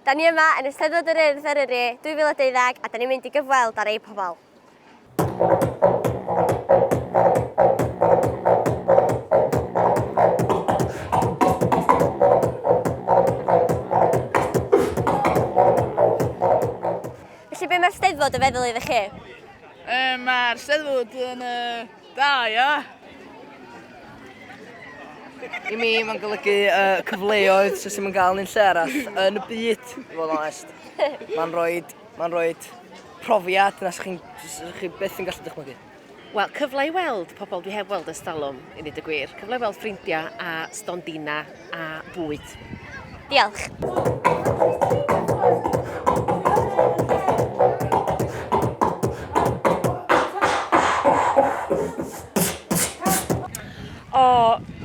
Da ni yma yn Eisteddfod yr Urdd Eryri 2012 a da ni'n mynd i gyfweld ar eu pobl. Felly be mae'r Steddfod yn feddwl iddo chi? Yy mae'r Steddfod yn yy da ia. I mi mae'n golygu uh, cyfleoedd sydd ddim yn cael yn lle arall yn y byd, i fod yn onest. Mae'n rhoi, mae'n rhoi profiad na sy'ch chi'n chi beth yn gallu dychmygu. Wel, cyfle i weld pobl dwi heb weld ers talwm, i ddweud y gwir. Cyfle i weld ffrindiau a stondina a bwyd. Diolch.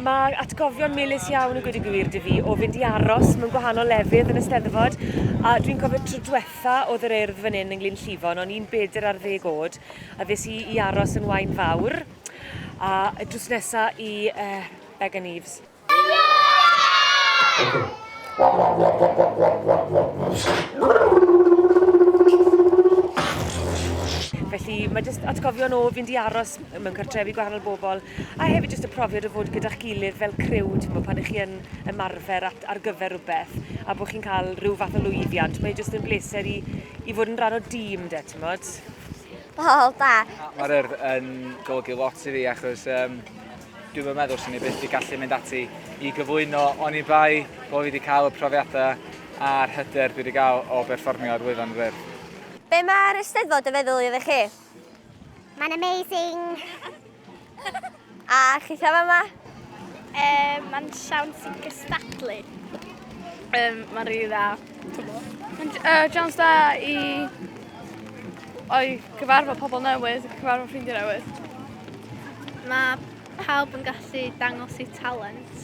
Mae atgofion melus iawn yn gwneud y gwir dy fi o fynd i aros mewn gwahanol lefydd yn y steddfod a dwi'n cofio tro diwetha oedd yr eirdd fan hyn yn Glyn Llifon o'n i'n bedr ar ddeg oed a ddes i i aros yn wain fawr a drws nesa i uh, Began Eves. Felly mae jyst atgofion o fynd i aros mewn cartrefi gwahanol bobl a hefyd jyst y profiad o fod gyda'ch gilydd fel criw, ti'n gwybod, pan ych chi yn ymarfer at, ar gyfer rhywbeth a bod chi'n cael rhyw fath o lwyddiant, mae jyst yn bleser i, i fod yn rhan o dîm de, ti'n bod? Wel, da. Mae'r yr yn golygu lot i fi achos um, Dwi'm yn meddwl swn i byth wedi gallu mynd ati i gyflwyno oni bai bod fi wedi cael y profiadau a'r hyder dwi wedi cael o berfformio ar wefan Wyrdd. Be mae'r Eisteddfod yn feddwl iddo chi? Mae'n amazing! A chithau fama? Yym, mae'n siawns i gystadlu. Yym, mae'n rili dda. Mae'n siawns da i... Cyfarfod pobl newydd, cyfarfod ffrindiau newydd. Mae pawb yn gallu dangos eu talent.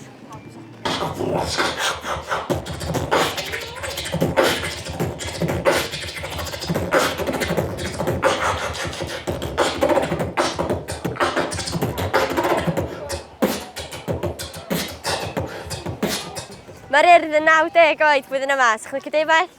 Mae'r urdd yn 90 oed flwyddyn yma, sy'n chlicio defaith?